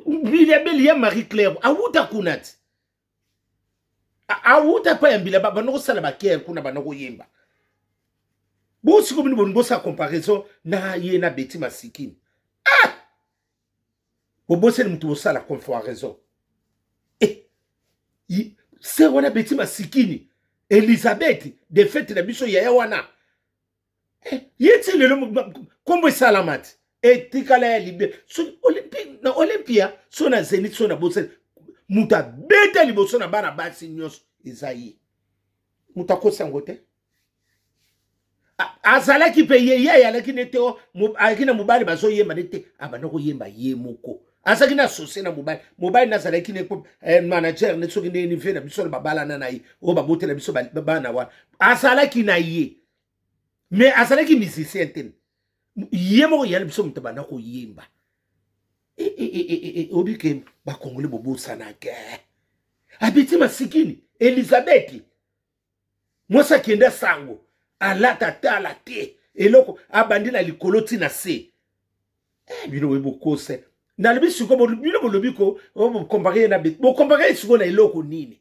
mbilabeli ya marie claire awuta kuna ti awuta pa ya mbilaba banda kosala bakere kuna banda koyemba bosiko bino bolingi bosala comparaison na ye na beti masikini ah! boboseli moto bosala comparaison eh! se wana beti masikini elizabeth defete na biso yaya wana eh, ye ti lelo nkombo esalama te etikala ya libe na olympia so na zenit so na bosani moto abeta liboso na bana basi nyonso eza ye moto akosi yango te azalaki mpe ye ye ayalaki ne te ayaki na mobali bazoyemba ne te abanda koyemba ye moko azalaki na sosie na mobali mobali nazalaki ne eh, manager ne soki nde nive na biso na babalana na ye oyo babotela biso bana wana azalaki na ye mais azalaki musicien te ye moko yali biso moto abanda koyemba eh, eh, eh, oyebi ke bakongole bobosanake abeti masikini elizabeti mwasi akenda sango alata tala te eloko abandi na likolo ti na se bino boye bokose nalobi siko bino bolobi ko oh, bokompare ye na beti bokompare ye siko na eloko nini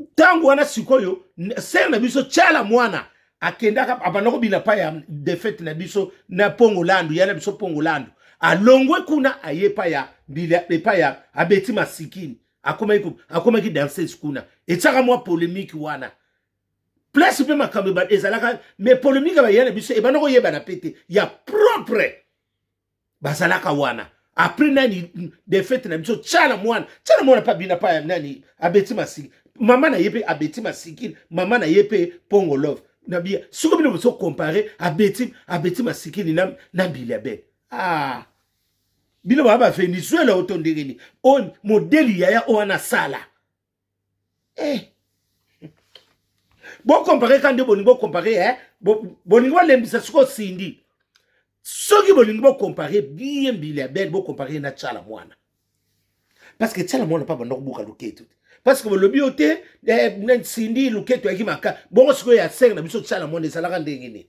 ntango wana sikoyo sere na biso tyala mwana akendaka abanda kobina pa ya defete na biso na pongo landu ya na biso pongo landu alongwe kuna aye epa ya mbila epa ya abeti masikini akomaki akomaki danseuse kuna etyaka mwa polemiki wana place mpe makambo ezalaka me polemiki ya baya na biso ebanda koyebana mpe te ya propre bazalaka wana après nani defete na biso tshala mwana tshala mwana mpe abina pa nani abeti masiki mama na ye mpe abeti masikini mama na ye mpe pongo love na biya siko bino bozo compare abeti abeti masikini na, na mbila bene ah. bino baa bavenezuela oyo to ndenge nini oyo modeli yaya oyo wana asala eh. bokompare ka nde bolingi bokompare eh? bolingi bolembisa sikoyo sindi soki bolingi bokompare bien mbila bele bokompare na tshala mwana parce que tshala mwana mpa banda kobuka loketu te parce que bolobi yo te eh, sindi loketu yaki maka bongo sikoyo ya sere na biso tshala mwana ezalaka ndenge nini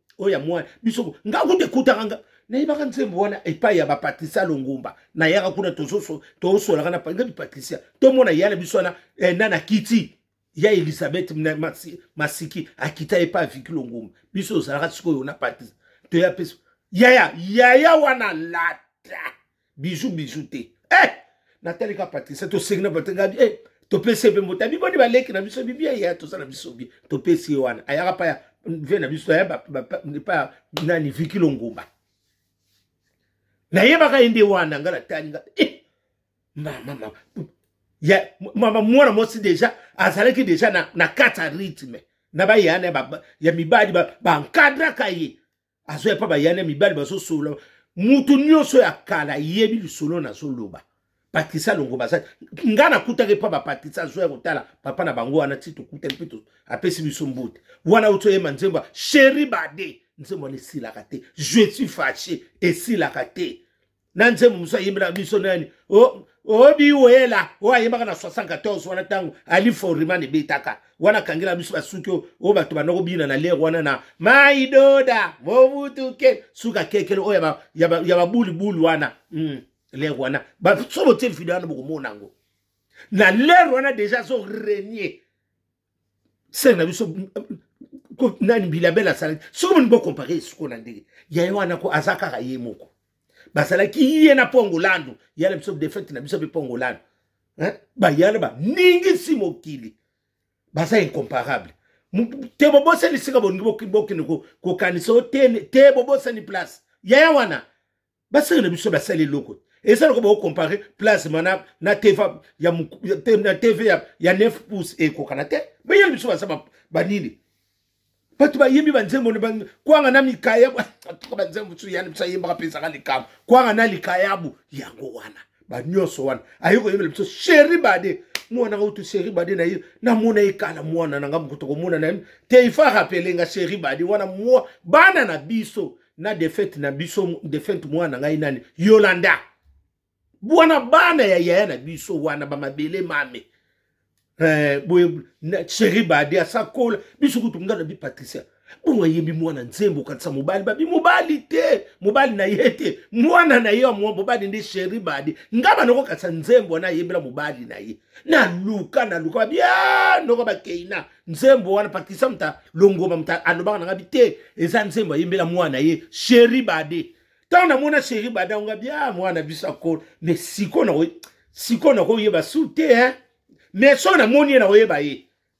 oyo ya mwana biso nga kutu ekutaka nga nayebaka nzembo wana epai ya bapatricia longomba nayaka kuna tozosolaka na nga bipatricia tomona ya na biso wana eh, na na kiti ya elizabeth masiki akita epai ya viki longomba biso ozalaka sikoyo na patricia toya mpe yaya yaya wana lata bijou bijou te eh! natali ka patricia tosengi na batengabi eh! topesi ye mpe mbota biboni baleki na biso bibia ya toza na biso bie topesi ye wana ayaka pa ya vie na biso aya epa ya nani viki longomba nayebaka ye nde wana nga natali nga eh! mama ya mama mwana mwasi deja azalaki deja na, na kati ya rythme na bayana ya, ya mibali bankadraka ba ye azoya mpa bayani ya mibali bazosolola moto nyonso ya kala yebi lisolo nazoloba patricia longo baza ngai nakutaki mpa bapatricia azoya kotala papa na bango wana ti tokutaki mpe apesi biso mbote wana uti oyema nzembo ya sheri bade nzembo wana esilaka te je suis fache esilaka te na nzembo mosusu ayembela biso nani obiwela oh, oh, oyo oh, ayembaka na 74 wana ntango ali foriman ebetaka wana akangela biso basuki oyo bato banda kobina na lere wana na maidoda mobutuke suka kekele oyo ya babulibuli wana mm, lere wana sobo tie video wana bokomona yango na lere wana deja azo renie sere na biso nani bilabele asalaki soki moni bokompare suko na ndenge ya ye wana ko aza kaka ye moko bazalaki ye na mpongo landu ya na biso defete na biso mpe mpongo landu bayana baningisi mokili baza incomparable te bobosani sika bolingi bokende kokanisa o te bobosani place yaya wana basali na biso basali eloko eza loko bakocompare plasma na, na tv ya, na tv ya, ya 9 pouce ekokana te baya na biso baza banini bato bayembi banzembo kwanga na mikayabu atuka banzembo mosusu yani biso ayembaka mpe ezaka likambo kwanga na likayabu yango wana banyonso wana aye koyembela biso sheri bade mwana nga utu sheri bade na ye namona ye kala mwana na nga mokutu komona na ye te ifa rapele nga sheri bade wana mwa bana na biso na defete na biso defete mwana ngai nani yolanda bwana bana ya yaya na biso wana bamabele mame eh, boye cheri bade asakola biso kutu nga na bi patricia bongo ayembi mwana nzembo okatisa mobali babi mobali te mobali na ye te mwana na ye ya mwa mobali nde cheri bade nga banakokatisa nzembo wana ayembela mobali na ye naluka naluka babi ah, noko bakeina nzembo wana patricia muta longoma muta alobaka na ngabi te eza nzembo ayembela mwana ye sheri bade ntango namona sheri bade yango ngabi a ah, mwana biso akolo me sikoyo nakoyeba su te hein mais soki namoni ye nakoyeba ye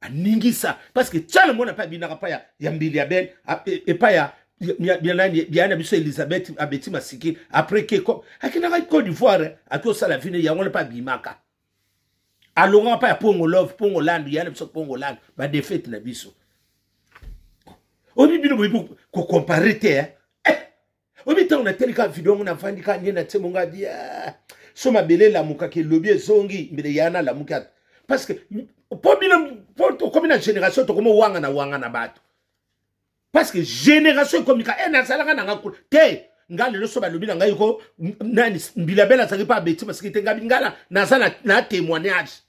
aningisa parce que tiana mwana mpe abinaka mpa ya, ya mbili ya bene epa ya nani biya na biso elizabeth abeti masiki après ke akendaka cote d'ivoire ake osala vino yango wana mpe abimaka alongaka mpa ya pongo love pongo landu ya na biso pongo landu badefete na biso oyebi bino boyebi kocompare te eh? oyebi ntango natali kaka video yango navandi kaka nde natie mongo abi so mabele elamukaka elobi ezongi mbele ya nalamuki ata parce que mpo bino mpo tokomi na génération tokomi owangana wangana bato parce que génération ekomi ka e nazalaka nanga kuna te nga lelo so balobi na ngai ko nani mbilabele azalaki mpe abeti masiki te ngabi ngala naza na témoignage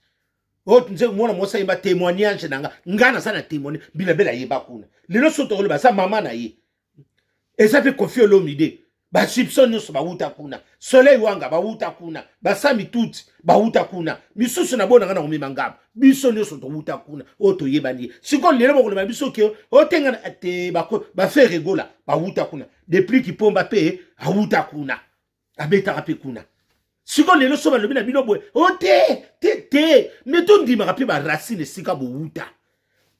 oyo oh, nze mwana mwasi ayeba témoignage na nga nga naza na témoignage mbilabele ayeba kuna lelo so tokoloba aza mama na ye eza mpe kofi olomide basipso nyonso bawuta kuna soleil wanga bawuta kuna basami tuti bawuta kuna misusu na bonanga na komema ngambo biso nyonso towuta kuna oyo toyebani ye sikoyo lelo bakoloba biso ke otengana te bafe regola bawuta kuna depuis kipomba mpe awuta kuna abetaka mpe kuna sikoyo lelo so balobi na bino boye o oh, te te te me tondimaka mpe baracine esika bowuta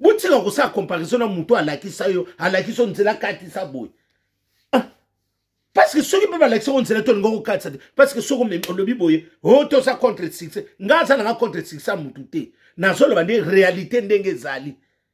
botika kosala comparaison na moto alakisa yo alakisa yo nzela katisa boye ah, parceke soki mpe balakisa yo nzela tolinga kokatisa te parceke soki olobi boye o oh, toza contre succès ngai aza nanga contre succès ya motu te nazoloba nde réalité ndenge ezali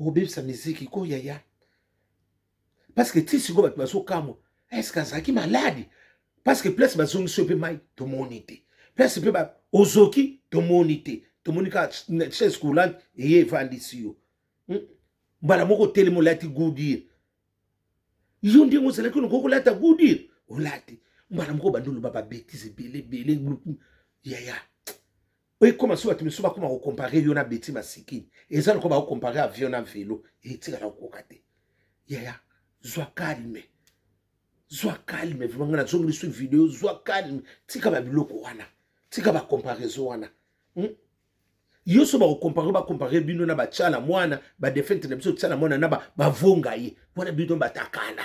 obebisa miziki ko yaya parce que ti sikoyo bato bazokamwa eske azalaki maladi parce que place bazongisi yo mpe mai tomoni te place mpe ozoki tomoni te tomoni kaka chaise coulante eye evandisi yo hmm? mbala moko otelemi olati goudire yo ndenge ozalaki oloko kolata goudire olati mbala moko bandi oloba babetise ebele ebele yaya ekoma so bato misusu bakoma kokompare yo na beti masikini eza lokola bakokompare avion na velo etikala kokoka te yaya zwa kalme zwa kalme vraimen ngai nazongi lisusu video zwa kalme tika babiloko wana tika bacomparaison wana hmm? yo so bakokompare bakompare bino na batyala mwana badefente na biso tyala mwana na bavonga ye wana bino batakana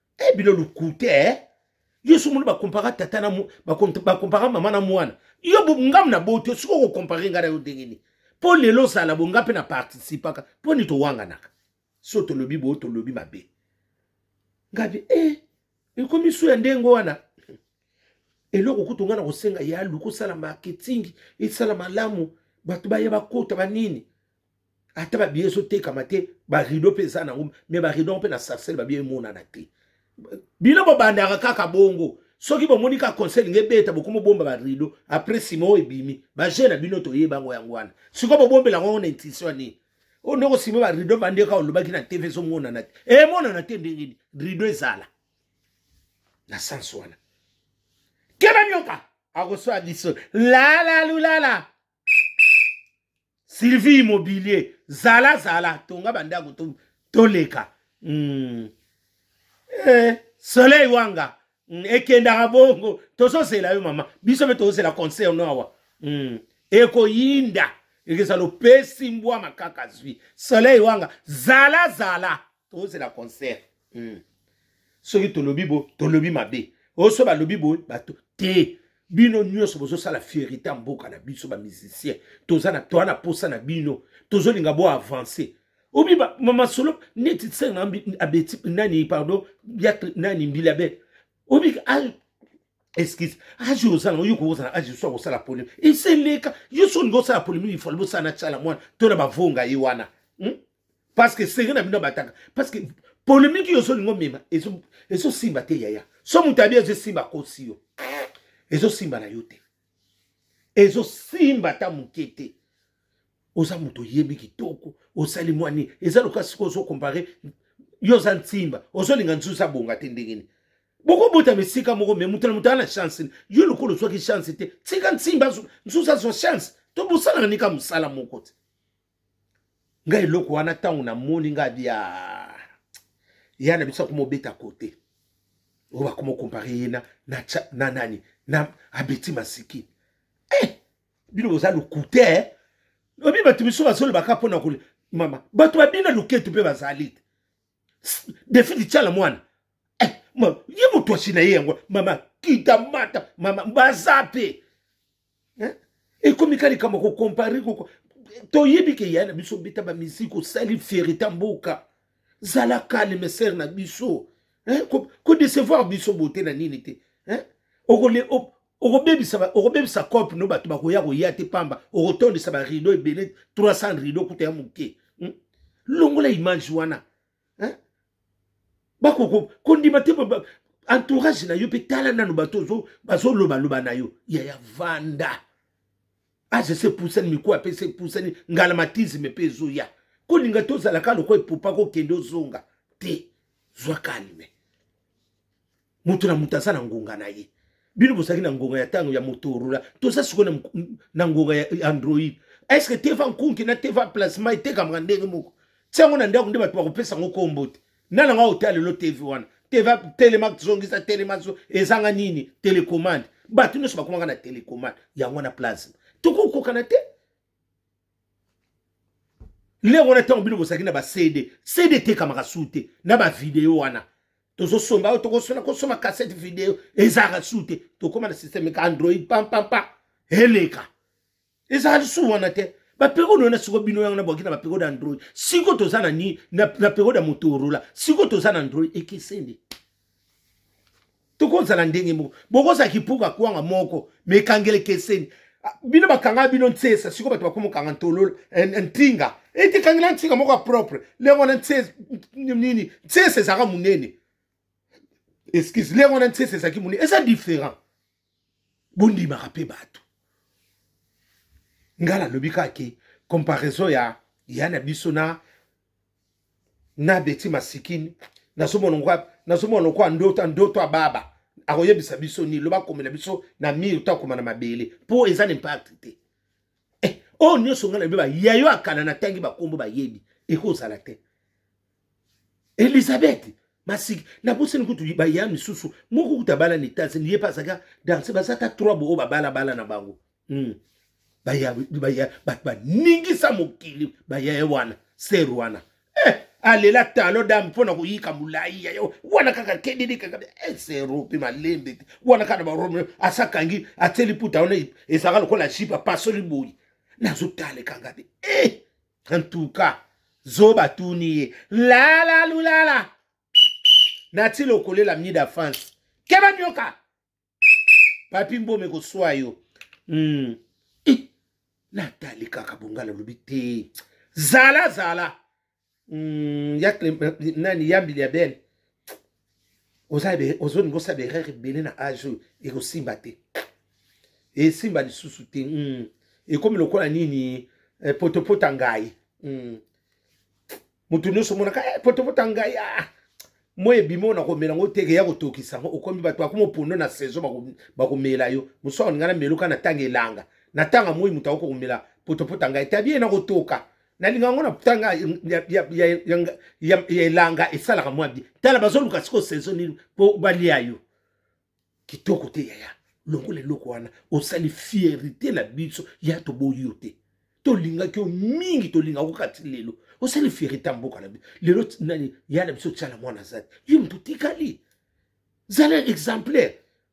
e bino lukute eh? yo soki omoni bakompara tata na bakompara mama na mwana yo ngamu na boyi te soki okokompare ngai na yo ndenge nini mpo lelo ozala bo ngai mpe na participaka mpo nini towanganaka so tolobi boyo tolobi mabe ngai mpe e eh, ekomi su ya ndenge wana eloko kutu ngai na kosenga ya luka osala marketing esala malamu bato baye bakota banini ata babiye ezotekama te barido mpe eza nango me barido yango mpe na sarcelle babiye emonana te bino bobandaka kaka bongo soki bomoni ka conseil nge beta bokomi obomba barido apres nsima oyo ebimi baje na bino toyeba yango yango wana sikoyo bobombela yango na intuition nini oyo ndoko nsima barido bandi kaka olobaki na tv ezomonana te emonana te ndenge nini rido ezala na sens wana keba nyoka akoswa biso lalalulala sylvie immobilier zala zala tonga bandako to, toleka mm. eh, soleil wanga mm, ekendaka bongo tozozela yo mama biso mpe tozozela concert no awa mm. ekoyinda ekezala opesi mbwa makaka zwi soleil wanga zala zala tozozela concert hmm. soki tolobi bo tolobi mabe oso balobi boye bato te bino nyonso bozosala fierité ya mboka na biso bamusicien toza na toa na posa na bino tozolinga bo avance obi masolo neti senga abeti nani pardon ya nani mbila bete obi excuse age ozala oyo kozala age so kosala polemi eseleka yo so olingi osala polemi ifali bosala na tyala mwana to na bavonga ye wana hmm? parce que secret na bino abataka parce que polemiki yo ozolinga omema ezosimba te yaya so moto abi ezosimba akosi yo ezosimba na yo te ezosimba ata moke te oza moto oyebi kitoko osali mwani eza lokola sikoy ozokompare yo oza nsimba ozolinga nzuzi abonga te ndenge nini bokobotama esika moko me moto na moto ana chance yo lokola ozwaki chance te tika nsimba nzuzi azwa chance tobosanaka nika mosala moko te nga eloko wana ntango namoni nga bia ya na biso akoma obeta kote oyo bakoma okompare ye na, na, na nani na abeti masiki eh, bino boza lokute eh? obi bato misusu bazolobaka mpo na kole mama bato babina loketu mpe bazali te defidi tyala mwana eh, ma, ye motosi na ye yango mama kita mata mama baza mpe hein? ekomi ka likambo kokompare toyebi ke ya na biso beta bamiziki osali fierita mboka zala kalme sere na biso kodecevoir ko biso bote na nini te okobebisa okobebisa cope no bato bakoya koya te pamba okotondisa barideau ebele 300 rideau kuta ya moke hmm? longola image wana hein? bakoko kondima te entourage na yo mpe tala nano bato bazolobaloba na yo yaya vanda age ah, se pusani mikuwa mpe se pusani ngalamatisme mpe ezoya kolinga tozalaka lokola epupa kokende ozonga te zwa kalme moto na moto aza na ngonga na ye bino bozalaki na ngonga ya ntango ya motorola toza sikoyo na ngonga ya android estce que teva nkunki na teva plasma etekamaka ndenge moko ti yango na ndako nde bato bakopesa yango nkombo te na nanga otala lelo tv wana teva telema zongisa telema ezanga nini telecommande bato nyonso bakomaka na telecommande yango wana plasma tokokokana te lere wana ntango bino bozalaki na bacd cd etekamaka su te na bavideo wana tozosomba oyo tokosona kosoma cassette video ezalaka su te tokóma na systeme eka android pampampa eleka ezalaka lisu wana te baperiode wana siko bino yango nabwaki na baperiode android siko toza na nini na periode ya motorola siko toza na android ekeseni tokozala ndenge moko bokozala kipuka kwanga moko mekangele keseni ah, bino bakanga bino nsesa sikoyo bato bakoma okanga ntolola eh, eh, ntinga ete eh, kangela ntinga moko ya propre lenge wana nini nsesa ezalaka monene excuse lenge wana nsesa ezalaki monene eza différent bondimaka mpe bato ngai nalobi kaka ke comparaison ya ya na biso na na beti masikini nazomona lokola nazomona lokola ndoto ndoto ya baba akoyebisa biso nini loba akomela biso na mire to akoma na mabele mpo eza na impact te eh, oyo nyonso ngai nayebi bayayo akana natangi bakombo bayebi ekozala te elizabeth masiki nabosani kutu baya misusu moko kutu abala na etats-unis ye mpe azalaka danse baza ata trois bo oyo babalabala na bango mm. baya baya bato baningisa mokili bayaye wana ser wana eh, alela talo dame mpo na koyika molai ya yo wana kaka kedede kaka eh, sero mpe malembe te wana kaka na barome asakangi atieli puta wana ezalaka lokola jipe apasoli boyi nazotala ekanga te eh, en tout cas zoba tuni ye lala lulala nati lokolela mida france keba nyoka papi mbome koswa yo mm. natali kaka bongala lobi te zala zala mm, ya, nani yambili ya bene ozolinga osala baerreur ebele na age oyo ekosimba te esimba lisusu te mm. ekomi lokola nini eh, potopota ngai mm. moto nyonso omonaka eh, potopota ngai ah. moi ebimi oyo nakomela yango teke ya kotokisa yango okomi bato bakoma opondo na saison bakomela yo mosusu akolinga na meloka na ntango elanga na ntango moi moto akoki komela potopota ngai tabi ye nakotoka nalinga yango na tanga ya elanga esalaka mwa bie tala bazoluka sikoyo saison nini mpo balia yo kitoko te yaya longola eloko wana osali fierité na biso ya toboyi yo te tolingaki yo mingi tolingaka okati lelo osali fierité ya mboka na biso lelo nani ya na biso tyala mwana azali yo moto otikali zala exemplaire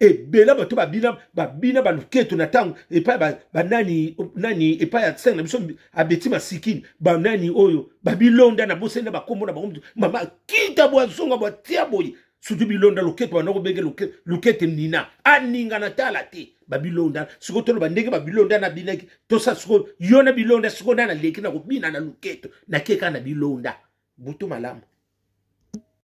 ebela bato babina babina baluketo na ntango epai banani ba nani epai ya senge na biso abeti masikini banani oyo babilonda na bosani na bakombo na bango mama kita bwazonga bwatia boye sutu bilonda loketo banda kobenge lukete nina aninga na tala te babilonda sikoyo toloba ndenge babilonda nabinaki tosa sikoyo yo na bilonda sikoyo nana leki na kobina na loketo nakeka na bilonda butu malamu